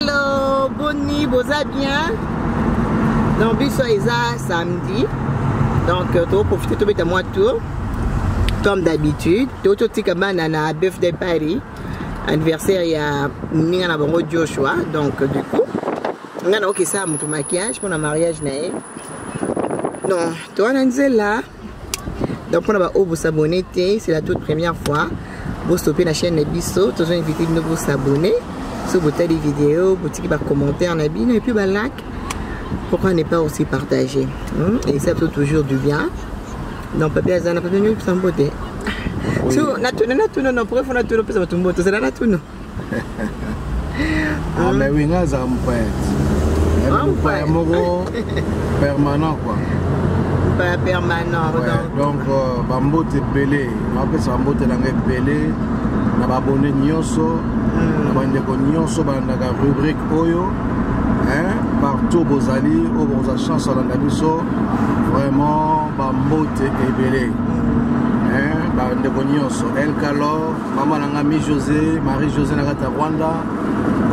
Hello, bonne nuit, boza bien. Donc biso eza samedi. Donc euh, to profiter to beta moi tour. Comme d'habitude, to to tika bana na birthday party. Anniversaire ya ninga na bango Joshua. Donc du coup, nga na okesa mutu maquillage pour na mariage na ye. Non, toi na nzela donc mpona baoyo bosabone te c'est la toute première fois bostope na chaîne na biso tozo invite bino bosabone so botali video botiki bacommentaire na bino epuis balike pourquoi ne pas aussi partager hmm? et ça peut toujours du bien donc papi aza na papi niokisambo te natuna natuna na pourquoi fo natuna opesa bato mboto ozala natuna ah mais oui nga za mpayati mpaya moko permanent quoi mpaya permanent donc euh, bambote ebele napesa bambote nanga ebele na babone nyonso hmm. na bandeko nyonso balandaka rubrique oyo partout bozali oyo bokozwa chance olanda biso vraiment bambote ebele hmm. bandeko nyonso elcalor mama na ngai mi josé marie josé na kati ya rwanda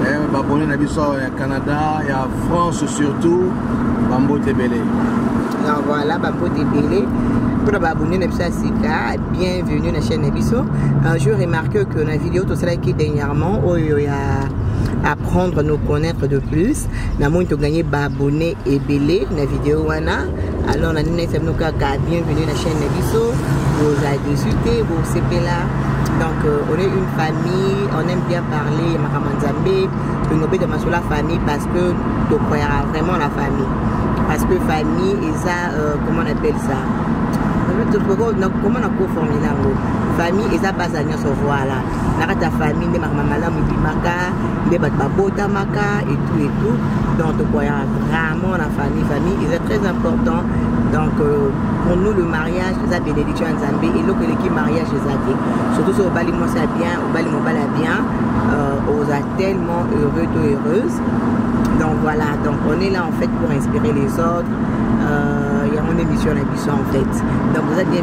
eh, babone na biso awa ya canada ya france surtout bambote ebele ah, voilà bambote ebele mpona baabonne na biso ya sika bienvenue na chaîne na biso euh, je remarque que na video tosalaki dernièrement oyo ya apprendre nous connaître de plus namoni toganye baabonne ebele na video wana alors na ndinayisa bino kaka bienvenue na chaîne na biso boza dessus te bosepela donc euh, on est une famille on aime bien parler ya makambo ya nzambe tolingi obeta masolo ya famille parce que tocroyaka vraiment na famille parce que famille eza euh, comment on appelle ça comment nakoformule yango famille eza base ya nyonso voilà na kati ya famille nde makambo malamu ebimaka nde bato babotamaka etout etout donc tokoya vraiment na famille famille eza très important donc euh, pour nous le mariage eza bénédiction ya nzambe eloko eleki mariage eza te surtout soki obali mwasi ya bien obali mobali ya bien euh, oza tellement heureux to heureuse donc voilà donc on est là en fait pour inspirer les autres euh, yango nde mission na biso en fait donc oza bien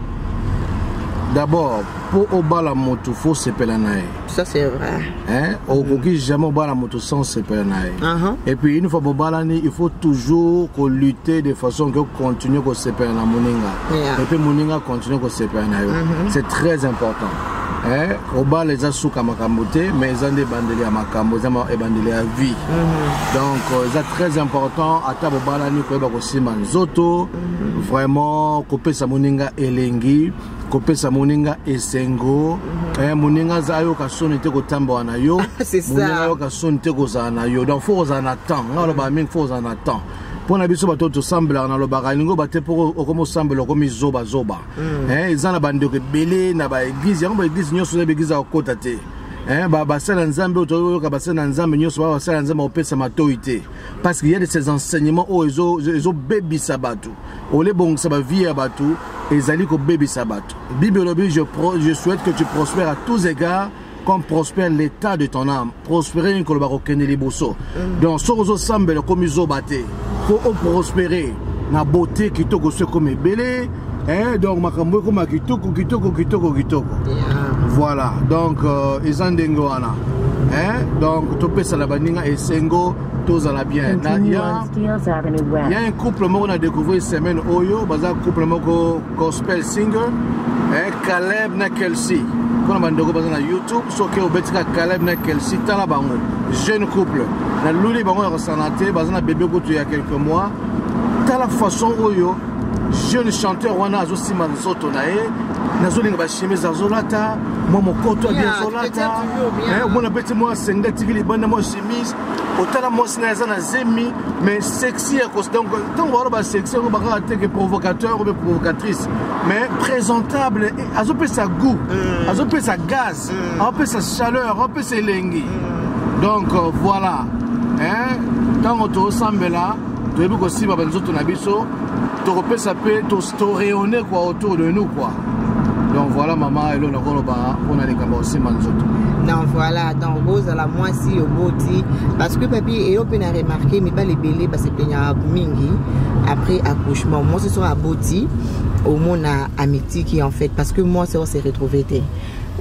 d'abord mpo obala motu fo osepela na ye ça c'est vrai hein? okoki jamais obala motu sans osepela na ye uh -huh. et puis une fois bobalani il faut toujours kolutter de façon que ocontinue kosepela na moninga yeah. et puis moninga continue kosepela na yo uh -huh. c'est très important eh, obala eza suka makambo te mais eza nde ebandeli ya makambo eza ebandeli ya vie mm -hmm. donc euh, eza très important ata bobalani koyeba kosimba nzoto vraiment kopesa moninga elengi kopesa moninga esengo mhm. eh, moninga aza ayoka soni te kotambola na yo moninga ayoka soni te kozala na yo donc fo kozala na temps ngai alobaka mingi fo kozala na temps mpo na biso bato tosambelaka nalobaka elingi oba te mpo okomi osambela okomi zobazoba mm. eh, eza na bandeko ebele na baeglize yango baeglize nyonso eza baeglize ya kokota te eh, basala nzambe oyo toyoka basala na nzambe nyonso baa basala nzambe kopesa matoi te parce qu'il y a de ces enseignements oyo ezobebisa bato ole ebongisa bavie ya bato ezali kobebisa bato bible elobi je, je souhaite que tu prospères à tous égards comme prospère l'état de ton âme prospérer nini koloba kokende liboso mm. donc soki ozosambela okomi zoba te mpo oprospere na bote kitoko so ekomi ebele Eh, donc makambo ekoma kitoko kitoko kitoko kitoko yeah. voilà donc euh, eza ndenge wana eh, donc topesana baninga esengo tozala bien na ya, ya un couple moko na découvrir semaine oyo baza couple moko gospel singer eh, caleb na kelsey mpona bandeko baza na youtube soki obetika caleb na kelsey tala bango jeune couple naluli bango ya kosana te baza na bebe kutu ya quelques mois tala façon oyo jeune chanteur wana azosimba nzoto na ye nazolinga bachemise azolata mwa mokoto abi azolata eh, omona beti mwa senga tiki libanda mwa chemise otala mwasi naye aza na zemi mais sexy ya kosi donc ntango bawana basexy yango bakaka teke provocateur obe provocatrice mais présentable eh, azopesa goût euh. azopesa gaz euh. azopesa chaleur azopesa elengi euh. donc voilà ntango tosambela toyebi kosimba banzoto na biso tokopesa mpe toreyone kua autour de nous kua donc voilà mama elo nakoloba mpona likambo kosimba nzoto donc voilà donc bozala mwasi oboti parce que papi eyo mpe na remarke mibali ebele basepenyaka mingi après accouchement mwasi soki aboti omona amitiki en fait parce que mwasi ose retrouve te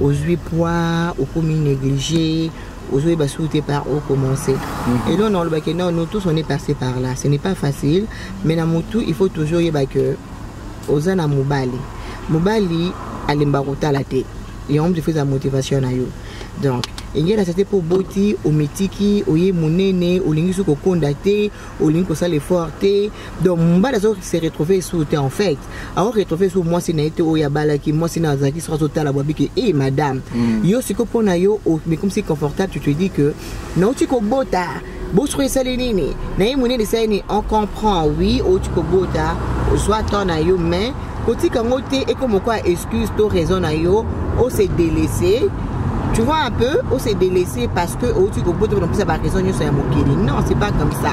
ozwi poids okomi néglige ozoyeba soki te par o commence mhm. eloo na olobaki non nous tous on est passé par là ce n'est pas facile mais na motu il faut toujours oyeba que oza na mobali mobali alemba kotala te yango moto efeza motivation na yo donc engela sete mpo oboti omitiki oye monene olingi soki kokonda te olingi kosala effort te donc mobali azo se retrouve esu te en fait awa retrouve so mwasi na ye te oyo abalaki mwasi na azalaki soki azotala bwabi ke e madame mm. yo sikoyo mpo na yo omikomisi confortable tu te dis que nauti kobota bosoko esali nini na ye monene esali nini on comprend oui outi kobota ozwa temps na yo mais kotika yango te ekoma moko ya excuse to raison na yo ose delese tu vois un peu on s'est délaissé parce que au tu kobota on plus avoir raison nous sommes mokili non c'est pas comme ça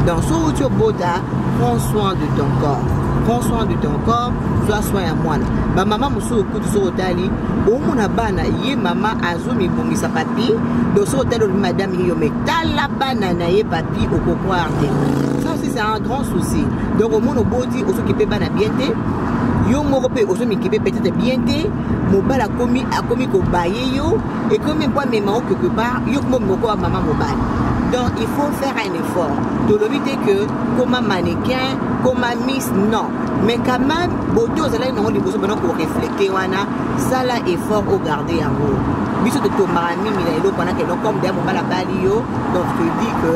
dans ce où tu bota prends soin de ton corps prends soin de ton corps sois soin ya mwana bamama mosusu kutu soki otali omona bana ye mama azomibongisa papi donc soki otali olobi madame ye yo me tala bana na ye papi okokwar te ça aussi c'est un grand souci donc omona oboti ozokipe bana bien te yo moko mpe ozomikipe peut-être bien te mobali akomi akomi kobaye yo ekomi mpo amema o quelque part yo komo moko ya mama mobali donc il faut faire un effort tolobi te que koma mannequin koma miss non mais quand même bote ozalaki nango liboso bana koreflete wana sala effort ogarde yango biso totombaka mingi na eloko wana keloko comme deya mobali abali yo donc todi que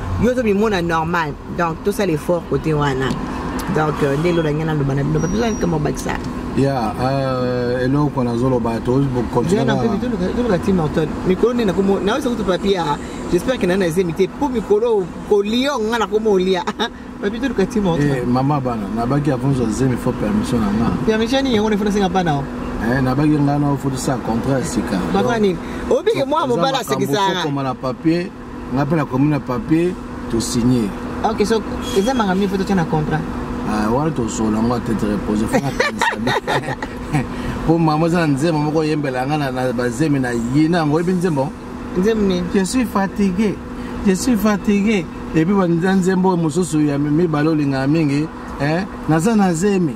yo ozomimona normal donc tosala effort kote wana donc euh, nde elolo yange naloba na bino batozakama obakisa ya euh, eloko nazoloba toluka ti morton mikolo nde nakomo nawesa kutu papia ah. j'espère ke nani na zemi te mpo mikolo kolio nga nakoma olia papi toluka ti morton eh, mama bana nabaki avonzo zemi fo permission na nga permission nini yango nefo nasenga bana o Eh, nabaki ngai na ofutisa contrat ya sika bakani obike mwa mobali asekisaka nga mpe nakomi na papier tosigne ok so eza manga mie mpo totya na contrat ah, wana tosolo yango atete repose mpo mama eza na nzembo moko oyembela nga na bazemi na yina yango oyebi nzembo nzembo nini je suis fatigué je suis fatigué epuis banza nzembo mosusu ya mibale olingaka mingi eh, naza na zemi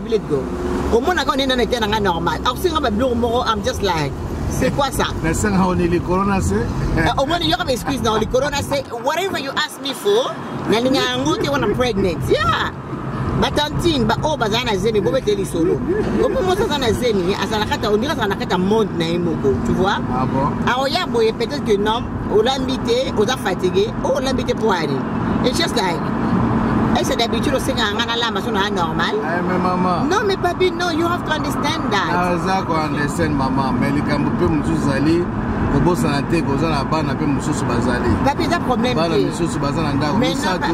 Biloko. Omona quand on est dans le terrain nga normal. Alors c'est nga biloko moko I'm just like c'est quoi ça? Mais c'est nga on est le corona c'est. Euh, Omona yo comme excuse non le corona c'est whatever you ask me for. Na linga yango te wana pregnant. Yeah. batantine baoyo oh, bazala na zemi bobete lisolo opo mosi aza na zemi azalakata ondiri azala na kati ya monde na ye moko tu vois ah aoya boye peut-être que nom olambi te oza fatigue o oh, olambi te mpo ani it's just like ese d'habitude osengaka ngai nalamba so naa normal eh, non mais papi no you have to understand that aza ko understand mama mais likambo mpe mosusu ezali kobosana te kozala bana mpe mosusu bazali bana misusu baza na ndako misato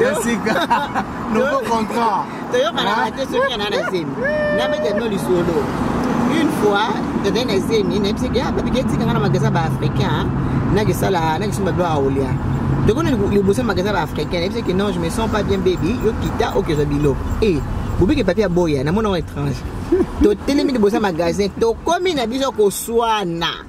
esika nouveau contrat toyokanaka ah. te soki ana na zemi nabeta no lisolo une fois tozali na zemi nayebisaki ah, babiki etikanga na magasin ba africain nakisala nakisomba bilo aolia tokona liboso magasin ba africain nayebisaki non je me sens pas bien baby yo kita okezwa bilo e eh, bobiki papier aboya namona ngo étrange totelemi liboso ya magasin tokomi na biso koswana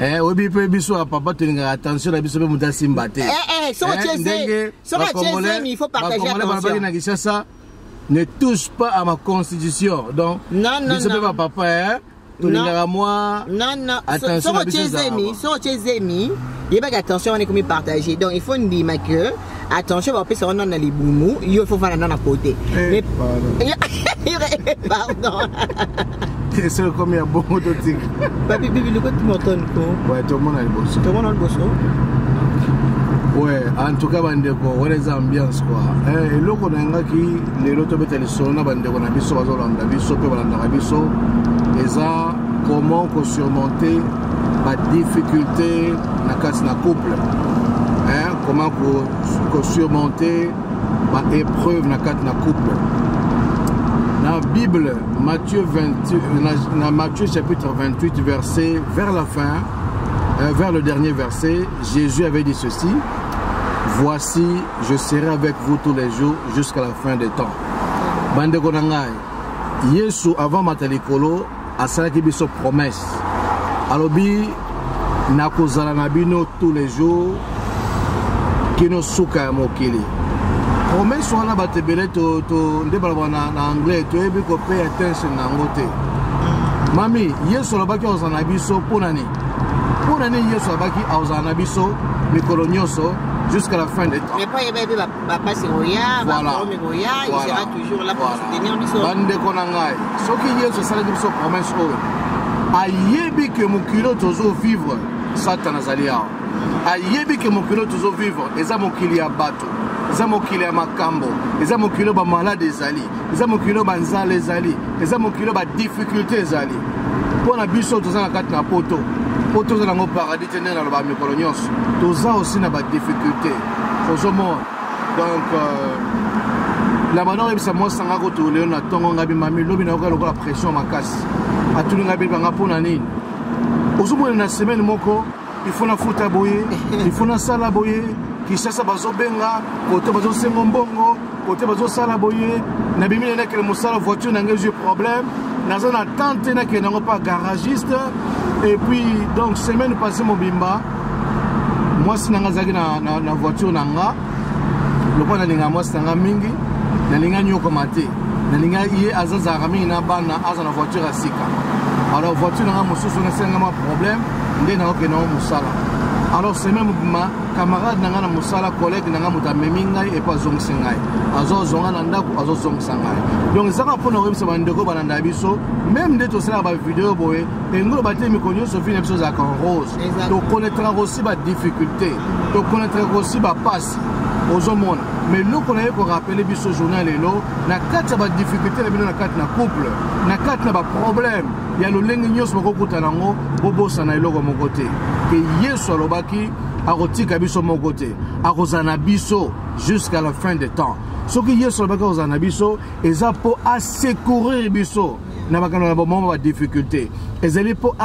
Eh, oyebi mpe biso ya papa tolingaka attention na biso mpe moto asimba te eh, eh, ndenge balobaki na kinshasa ne touche pas à ma constitution donc biso mpe bapapa eh? tolingaka mwa attention na biso ezalaka soko tie zemi yebaki attention wana ekomi partage donc il faut ndima que attention bakopesa wana na libumu yo ifo fana na na kote eh, pardon soki ekomi ya bongo totika papi bibi likoti motoni ko tomona liboso tomona liboso ouais en tout cas bandeko wana eza ambiance kua eh, eloko nayangaki lelo tobeta lisolo na bandeko na biso bazolanda biso mpe balandaka biso eza comment kosurmonter ba difficulté na kati na couple hein? comment ko surmonter ba épreuve na kati na couple na bible matthieu 28, na, na matthieu chapitre 28 verset vers la fin euh, vers le dernier verset jésus avait dit ceci voici je serai avec vous tous les jours jusqu'à la fin des temps bandeko na ngai yesu avant mata likolo asalaki biso promesse alobi nakozala na bino tous les jours kino suka ya mokili promesse wana bato ebele nde balobaka na anglais toyebi kopay attention na yango te mami yesu alobaki akozala na biso mpo na nini mpo na nini yesu alobaki akozala na biso mikolo nyonso jusqu'à la fin des temps bapasi ekoya baproblème ekoya il sera toujours là pour soutenir biso bandeko na ngai soki yesu asalaki biso promesse oyo ayebi ke mokili oyo tozovivre satana azali awa ayebi ke mokili oyo tozovivre eza mokili ya bato eza mokili ya makambo eza mokili oyo bamalade ezali eza mokili oyo banzala ezali eza mokili oyo badifficulté ezali mpo na biso toza na kati na poto mpo toza nango paradis te nde naloba mikolo nyonso toza osi na badifficulté ozo mona donc euh, labana oyebisa mwasi nanga koto lelo na ntongo ngai bimami lobi nayoka lokola pression makasi atuni ngai bebanga mpo na nini ozomona na semaine moko ifo nafuta boye ifo nasala boye kisasa bazobenga koto bazosengo mbongo kote bazosala boye nabimi na nakele mosala voiture na ngai ezwi problème naza na tante nakende yango mpa garagiste et puis donc semaine passé mobimba mwasi na ngai azalaki na, na, na voiture na nga lokola nalinga mwasi na ngai mingi nalinga nyokoma te nalinga ye azazalaka mingi na bana aza na voiture ya sika alors voiture na ngai mosusu nasenga mwa problème nde nakokende yango mosala alors semaine mobima camarade na ngai na mosala collègue na ngai moto amemi ngai epo azongisi ngai azozwa ngai na ndako azozongisa ngai donc ezaka mpo na koyebisa bandeko balanda biso meme nde tosalaka bavideo boye engolo batee mikolo nyonso vi na biso ezalaka en rose tokonetraka osi badifficulté tokonetraka osi bapasi ozomona mais eloko na ye korapele biso journal lelo na kati ya badifficulté na bino na kati na couple na kati na baproblème ya lolenge nyonso bakokutana yango bobosana eloko moko te ke yesu alobaki akotika biso moko te akozala na biso jusqu'à la fin de temps soki yesu alobaki akozala na biso eza mpo asecourir biso na makambo na bomoma badifficulté ezali mpo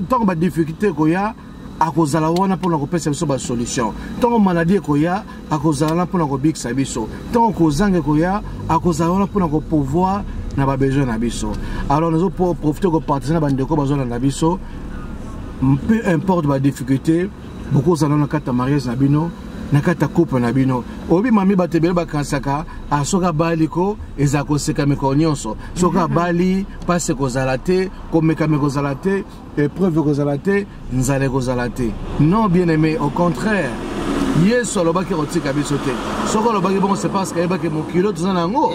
ntango badifficulté ekoya akozala wana mpo na kopesa biso basolution ntango maladi ekoya akozala wana mpo na kobikisa biso ntango kozanga ekoya akozala wana mpo na kopouvoir na babesoin na biso alors nazo profite kopartise na bandeko bazolanda biso peu importe badifficulté bokozala na kati ya mariage na bino na kati ya couple na bino oyebi mami bato ebele bakanisaka ah, soki abali ko ezala koseka mikolo nyonso soki abali mpasi ekozala te komekama ekozala te epreuve ekozala te nzala ekozala te non bien aimé au contraire yesu alobaki akotika biso te soki alobaki bongo c'est parce ayebaki mokili toza na yango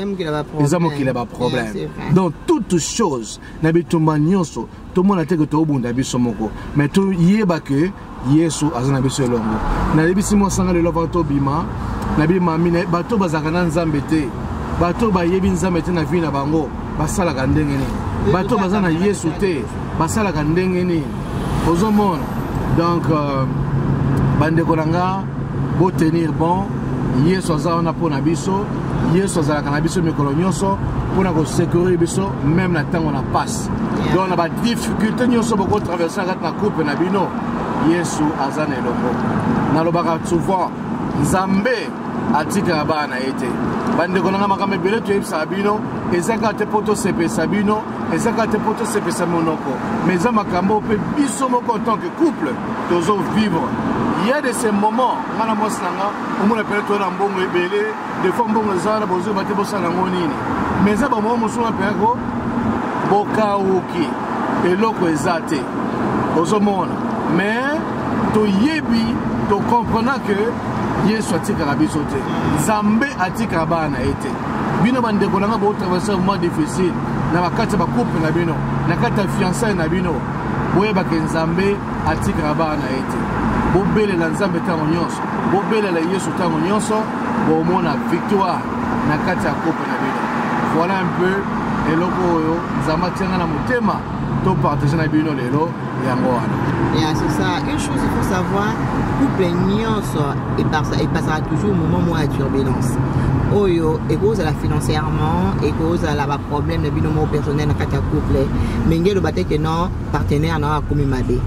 eza mokili ya baproblème donc toute chose na bitumba nyonso tomona te ke tobunda biso moko mais toyeba ke yesu aza na biso elongo nayebisi mwa sanga lelo avant tobima na bimami bato bazalaka na nzambe te bato bayebi nzambe te na vie na bango basalaka ndenge nini bato baza na yesu te basalaka ndenge nini ozomona donc euh, bandeko na nga botenir bon yesu aza wana mpo na biso yesu azalaka na biso mikolo nyonso mpo na kosekurire biso meme na ntango na pasi yeah. donc na badifficulte nyonso bokotraverse na kati na couple na bino yesu aza na elongo nalobaka souvent nzambe atikaka bana na ye te bandeko nanga makambo ebele toyebisaka bino eza kaka te mpo tosepelisa bino eza kaka te mpo tosepelisa monoko mais eza makambo mpe biso moko en tant que couple tozo vivre il y a de ces moments nga na mwasi na nga omona pele toza na mbongo ebele des fois mbongo eza wana bozoyeba te bosala yango nini mais eza bamoko mosusu mapena ko bokauki eloko eza te ozomona mais toyebi tokomprena ke yesu atikaka biso te nzambe atikaka bana na ye te bino bandeko na ngai botraverse moment difficile na bakati ya bacouple na bino na kati ya fiançaille na bino boyebaka nzambe atikaka bana na ye te bobelela nzambe ntango nyonso Bobelela Yesu tango nyonso, bomona victoire na kati ya couple na bino. Voilà un peu eloko oyo Nzambe atianga na motema to partager na bino lelo yango wana. Yeah, c'est ça. Une chose il faut savoir, couple nyonso epasaka toujours moment moko ya turbulence. oyo ekozala financièrement ekozala baproblème na bino moko personnel na kati ya couple menge eloba te ke non partenaire na yo akomi mabe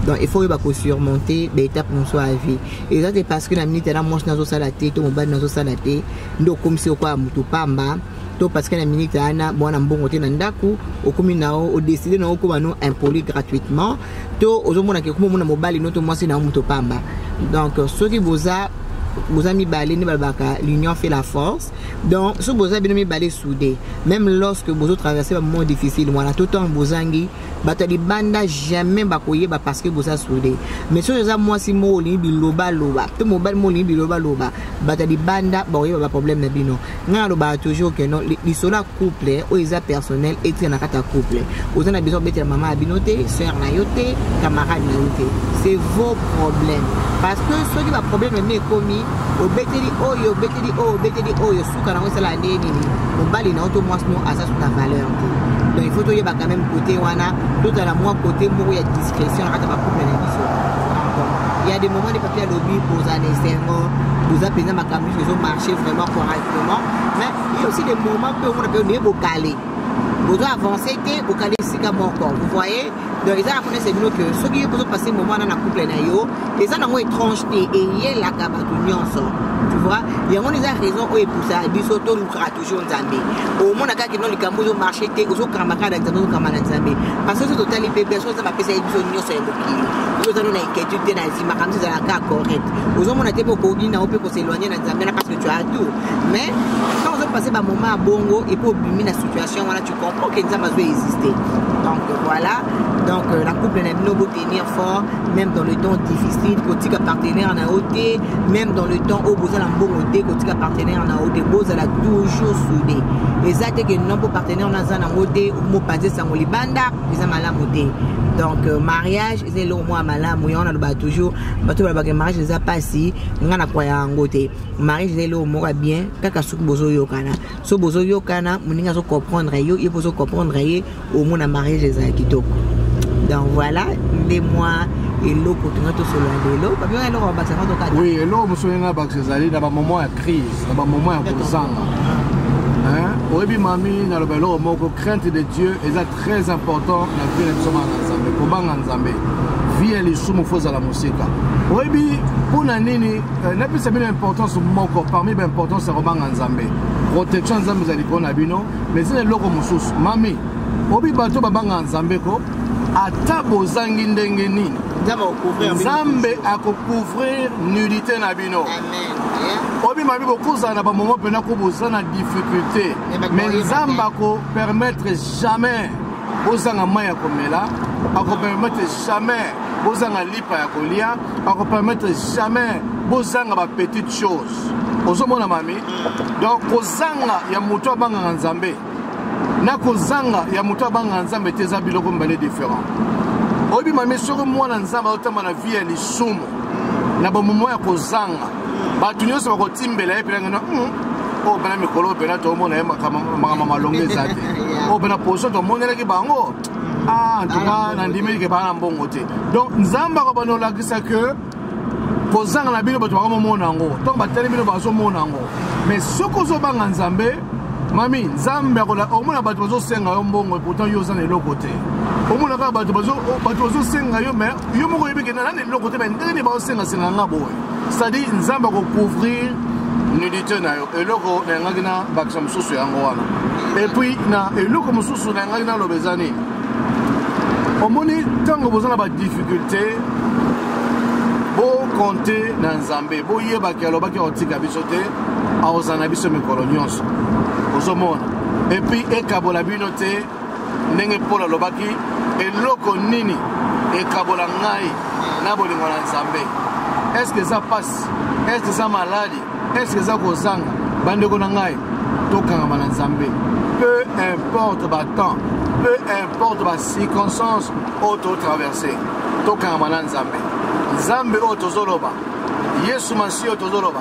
donc il faut oyeba kosurmonte baetape mosusu ya vie eza te parce que na minute na mwasi nazosala te to mobali nazosala te nde okomisi okoya motu pamba to parce que na minute wana mwana mbongo te na ndako okomi na yo odeside na yo okoma no impoli gratuitement to ozomona ke okoma omona mobali no to mwasi na yo moto pamba donc soki boza boza mibale nde balobaka l'union fait la force donc soki boza bino mibale soude même lorsque bozo traverse bamoment difficile wana to ntango bozangi bato ya libanda jamais bakoyeba parce que boza soude mais soki oza mwasi moko olingi bilobaloba to mobali moko olingi bilobaloba bato ya libanda bakoyeba baproblème na bino ngai nalobaka toujours ke non lisolo couple oyo eza personnel etika na kati ya couple oza na besoin obetela mama ya bino te sœur na yo te camarade na yo te c'est vos problème parce que soki baproblème emi ekomi obeteli oyo obeteli oyo obeteli oyo suka nango esala ndenge nini mobali na yo to mwasi no aza suka valeur te donc il faut toyeba quand même côté wana tozala mwa côté moko ya discrétion na kati ya bacouple na biso ya de moment de papier alobi bozala na esengo boza mpenza makambo nyonso ezomarche vraiment correctement mais Yo aussi des moments peu on peut ne bokale. Bozo avancer te bokale sika moko. Vous voyez? Donc eza na connaissance bino que soki yo bozo passer moment na couple na yo, eza na ngo étrange te et yelaka bato nyonso. Tu vois? Yango eza raison oyo epousa biso to lukaka toujours Nzambe. Omona kaka non likambo ozo marcher te, ozo kamba kaka na Nzambe, ozo kamba na Nzambe. Parce que soki totali pe biso eza bapesa ye biso nyonso ya mokili. Oyo eza no na inquiétude te na zima kamisa ezalaka correct. Ozomona te pe okoki na yo pe ko s'éloigner na nzambe na parce que tu as tout mais quand ozo passer ba moment ya bongo et puis obimi na situation wana tu comprends que nzambe azo exister donc voilà donc euh, la couple na bino botenir fort même dans le temps difficile kotika partenaire na yo te même dans le temps oyo boza na mbongo te kotika partenaire na yo te bozala toujours soude eza te ke non mpo partenaire naza nango te mopanzi esango libanda eza malamu te donc euh, mariage eza eloko mwa malamu yango naloba toujours bato balobaka mariage eza mpasi ngai nakwaya yango te mariage eza eloko moko ya bien kaka soki bozoyokana so bozoyokana moninga azocomprendre yo ye mpo ozocomprendre ye omona mariage ezala kitoko donc voilà nde mwa eloko tonga tosolola lelo babioka eloko babakisa ngo tokata oui eloko mosusu ndenge babakisa ezali na bamoment ya crise na bamoment ya kozanga oyebi mami naloba eloko moko crainte de dieu eza Très important na vie na biso bana na Nzambe, kobanga Nzambe. Vie ya lisumu faut ozala mosika. Oyebi mpo na nini euh, napesa bino importance moko parmi ba importance ya kobanga Nzambe. Protection Nzambe ezali likolo na bino, mais ezali eloko mosusu. Mami, obi bato babanga Nzambe ko ata bozangi ndenge nini nzambe akocouvrir nudité na bino obima bi bokozala na bamomo mpena ko boza na difficulté mais nzambe ako permettre jamais bozanga mai ya komela ako permettre jamais bozanga lipa ya kolia ako permettre jamais bozanga ba petite chose ozomona mami donc kozanga ya moto abangaka nzambe na kozanga ya moto abangaka nzambe te eza biloko mibale différent oyebi mami soki mwana nzambe aotamba na vie ya lisumu na bamomo ya kozanga bato nyonso bakotimbela ye mpenza ngana hmm, oyo oh, mpena mikolo oyo mpena tomona ye makambo malonga eza te oyo oh, mpena poso tomonelaki bango ah, ntuka nandimeli ke baa na mbongo te donc nzambe akobanda olakisa ke kozanga na bino bato bakomomona yango ntango batali bino bazomona yango mais soki ozobanga nzambe mami nzambe akona omona bato bazosenga yo mbongo pourtant yo oza na eloko te omona kaka bato bazosenga yo mais yo moko oyebi kenda nani eloko te ndenge nini baosengasenga nga boye cestadire nzambe akocouvrir nudité na yo eloko nayangaki na bakisa mosusu yango wana epuis na eloko mosusu nayangaki naloba eza nini omoni ntango boza na badifficulté bokonte na nzambe boyebaki alobaki akotika biso te akozala na biso mikolo nyonso ozomona epuis ekabola bino te ndenge paul alobaki eloko nini ekabola ngai na bolingo na nzambe eske eza mpasi eske eza maladi eske eza kozanga bandeko na ngai tokangama na nzambe peu importe batemps peu importe bacirconstance oyo totraverse tokangama na nzambe nzambe oyo tozoloba yesu masiya oyo tozoloba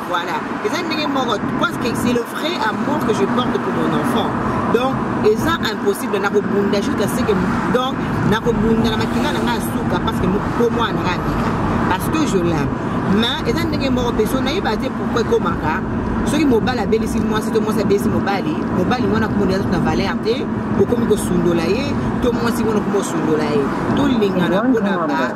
Voilà. Eza ndenge moko parce que c'est le vrai amour que je porte pour mon enfant. Donc eza impossible na kobunda jusqu'à ce que donc na kobunda na makila na nga suka parce que po mwana nga abika parce que je l'aime. Mais eza ndenge moko mpe so nayeba te pourquoi ekomaka soki mobali abelisi mwasi to mwasi abelisi mobali mobali wana komona eza na valeur te okomi kosundola ye to mwasi wana okomi kosundola ye tolingana mpona ba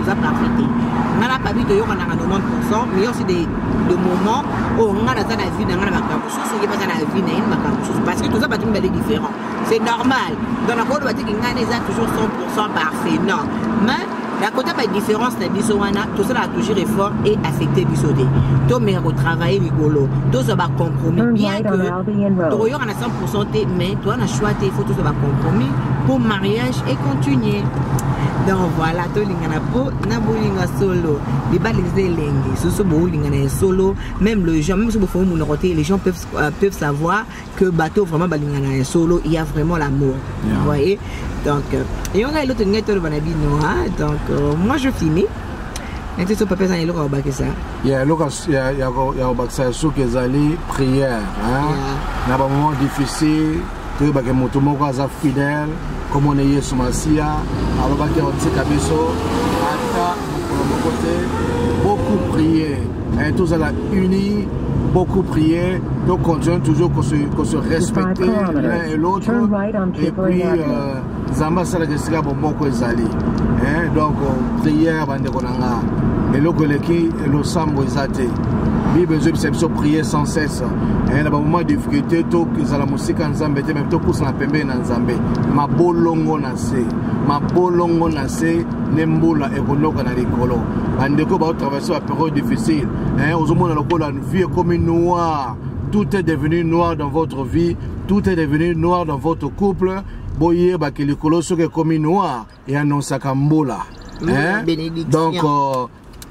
oza parfait te ngai na pabi toyokanaka 90 pourcent mais yo aussi de, de moment oyo ngai naza na vie na ngai na makambo mosusu ye baza na vie na ye na makambo mosusu parce que toza bato mibale différent c'est normal donc nakoloba teke ngai na eza toujours 100 pourcent parfait non mais na kota badifférence na biso wana tosalaka toujours effort e affecte biso te tomeka kotravaille likolo tozwa bacompromis bien que tokoyokana 100% te mais toza na choix te il faut tozwa bacompromis mpo mariage et continuer donc voilà tolingana mpo na bolinga solo libala eza elenge soso boolingana ya solo même le gens même soki bofongi monoko te les gens peuvent, euh, peuvent savoir que bato vraiment balingana ya solo il y a vraiment l'amour yeah. voyez donc euh, eyonga eloko tolingai toloba na bino donc euh, moi je finis neti so papa eza na eloko ya kobakisa ya eloko ya kobakisa ya suki ezali prière na bamoment difficile toyebake moto moko aza fidèle komona yesu masiya alobaki akotika biso ata mokolo moko te beaucoup prier eh, tozala unis beaucoup prier, donc continuons toujours qu'on se, qu se respecter l'un et l'autre. Et puis, euh, nzambe asalaka esika bomoko ezali eh, donc prière bandeko na nga eloko eleki losambo eza te bible ezobisa biso prier sans cesse eh, na bamoment ya difficulté tozala mosika nzambe te me topusana pembeni na nzambe mabolongo na se mabolongo na se nde mbula ekonoka na likolo bandeko baotraverse baperiode difficile eh, ozomona lokola vie ekomi noir tout est devenu noir dans votre vie tout est devenu noir dans votre couple boyeba ke likolo soki ekomi noir eanonsaka mbula mm, eh? donc euh,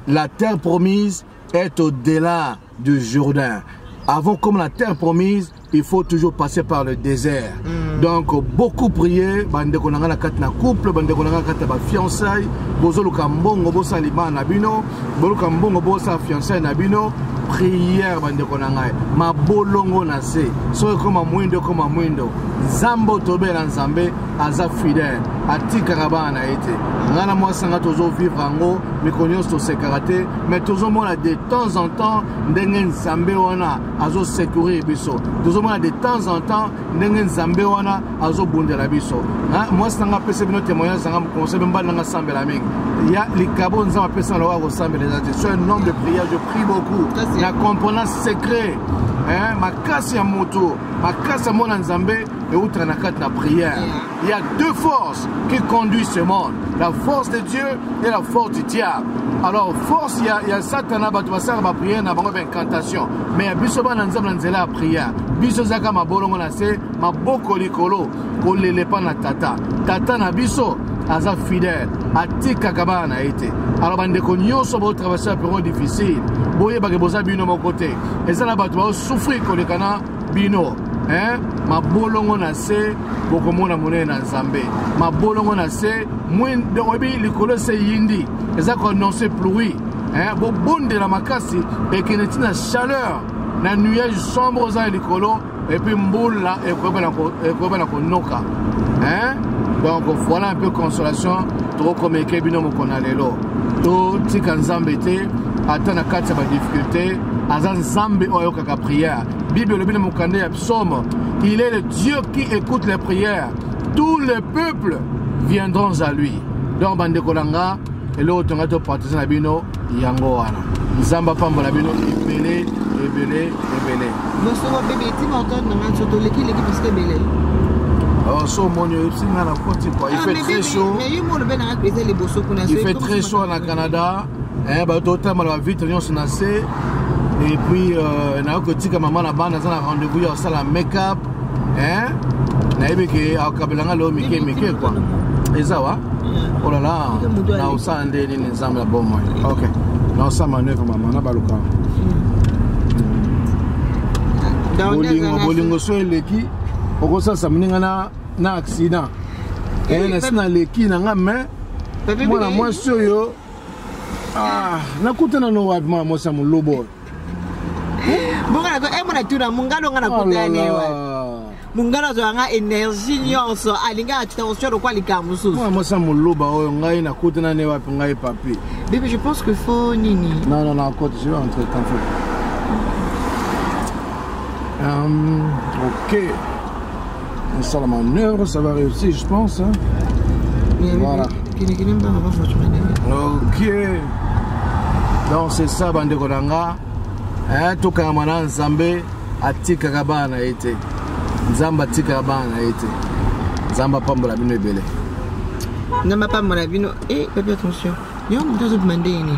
la terre promise est au-delà du Jourdain. Avant comme la terre promise, il faut toujours passer par le désert. Mm. Donc beaucoup prier, bande konanga na kat na couple, bande konanga kat ba fiançailles, bozoluka mbongo bosalima na bino. boluka mbongo bosala fiançai na bino priere bandeko na ngai mabolongo na se soki ekoma mwindo ekoma mwindo nzambe oyo tobela nzambe aza fidele atikaka bana na ye te ngai na mwasi ngai tozovivre yango mikolo nyonso tosekaka te mai tozomona de temps en temps ndenge nzambe wana azosecurir biso tozomona de temps en temps ndenge nzambe wana azobundela biso mwasi na nga apesa bino témoignage nanga conseil mbali na nga asambela mingi ya likabo nzambe apesa na oyo akosambela eza te soy un homme de prière je prie beaucoup na comprena secret makasi ya moto makasi ya mona nzambe eutaka na kati na prière Il y a deux forces qui conduisent ce monde, la force de Dieu et la force du diable. Alors force il y a, il y a Satan à battre ça va prier na bango incantation. Mais ya biso bana nzambe na nzela ya prière. Biso zaka mabolongo na se maboko likolo ko lele pa na tata. Tata na biso aza fidèle atikaka bana na ye te alors bandeko nyonso botraverse ya periode difficile boyebake boza bino moko te eza na bato baosouffrir koleka na bino eh? mabolongo na se bokomona monene na nzambe mabolongo na se oyebi likolo se yindi eza koannonce pluie eh? bobondela makasi ekende ntina chaleur na nuage sombre oza ya likolo epuis mbula ekoyeba na konoka eh? donc voilà un peu consolation tokokomeke bino mokona lelo totika nzambe te ata na kati ya badifficulté aza nzambe oyo La prière. Bible le mokanda ya psaume. Il est le Dieu qui écoute les prières. Tous les peuples viendront à lui. Donc bande kolanga eloko tonga to partager na bino yango wana. Nzamba pambola bino ebele ebele ebele. Bosoko bebe etima otone na nganso toleki leki parce que ebele. Alors, so moni oyebisi ngai na koti quoi il ah, fait très chaud il fait très chaud na canada eh, bato totambala bavitre nyonso na se et puis euh, nayoki kotika mama na bana aza na rendez-vous ya kosala make-up eh? nayebi ke akabela nga leo mike mike kua eza wa olala oh na osala nde nini nzambe ya bomoi ok na osala manœuvre mama na baluka bolingo bolingo so eleki okosalisa moninga na na accident eh, eh, nasi naleki na nga mai mwana mwasi oyo Ah, nakutana no wapi mwana mwasi ya molobo oyo bonga nako emo na tuna mungalo nga nakutana ne oh wapi mungalo azwaka nga energie nyonso alinga attention lokola likambo mosusu mwana mwasi ya moloba oyo ngai nakutana ne wapi ngai papi bebe je pense que fo nini non non non kote je vais entrer tant fait um, ok Sala manœuvre, ça va réussir, je pense. Hein? Voilà. Ok. Donc c'est ça, bande Konanga. Hein, tout Kamana Nzambe, Atika Kabana été. Nzamba Tika Kabana été. Nzamba Pambola Bino Ebele. Nzamba Pambola Bino. Eh, papa, attention. Yo, on doit demander une.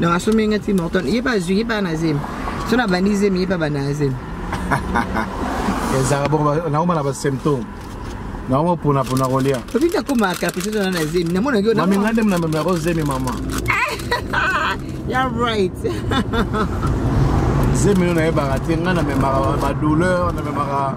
donc asombi nga ti morton ye mpe azwi ye mpe ana zemi so na bandi zemi ye mpe abanda na zemi ezalaka bongo naoma na basymptome naoma ponapona kolia obi nakomaka caprice tona na zemi namonaki yo mami ngai nde namema yako zemi mama ya right zemi yo nayebaka te ngai namemaka badouleur namemaka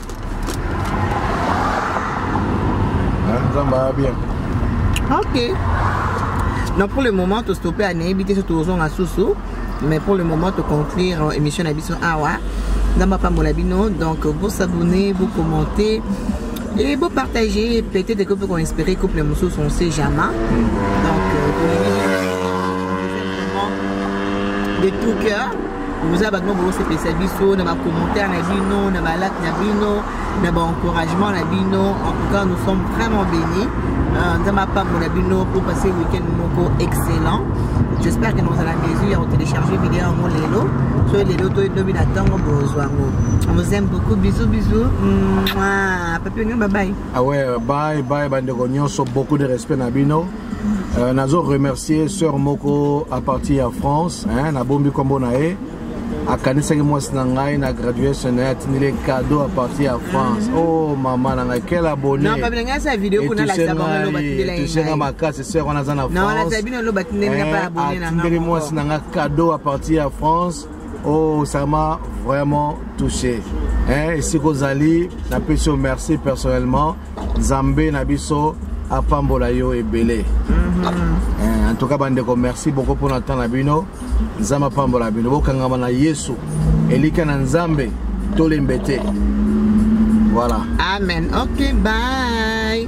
nzambe aya bien ok donc pour le moment tostope anayebi te so tozonga susu mais pour le moment toconclure euh, émission na biso awa nzambe apambola bino donc bosabonne bocommente et bopartage peut-être que mpe koinspire couple mosusu on sait jamais donc euh, de tout cœur boza bato moko bosepelisa biso na bacommentaire na bino na balak na bino na baencouragement na bino en tout cas nous sommes vraiment bénis euh, nzambe apambola bino pour passer week-end moko excellent j'espère que nous à la mesure ya kotélécharge video yango lelo soki lelo toyi lobi na ntango bozwa yango on vous aime beaucoup bisous bisous papi onyo babai awe ah bai bai bandeko nyonso beaucoup de respect na bino Euh, nazo remercier sœur moko à partir ya France hein, nabombi nkombo na ye akanisaki mwasi na ngai na graduation na ye atindeli ye cadeau à partir ya france o oh, mama na ngai quel abonneetusenga makasi sœur wana aza na franceatindeli eh, mwasi na ngai cadeau à partir ya france Oh, ça m'a vraiment touché. Hein, si Rosali, la pression merci personnellement. Zambé Nabiso, apambola yo ebele. Mm -hmm. En tout cas, bandeko, merci beaucoup pour notre temps na bino. Nzamba pambola bino. Bokangama na Yesu. Elika na Nzambe, tolembete. Voilà. Amen. OK, bye.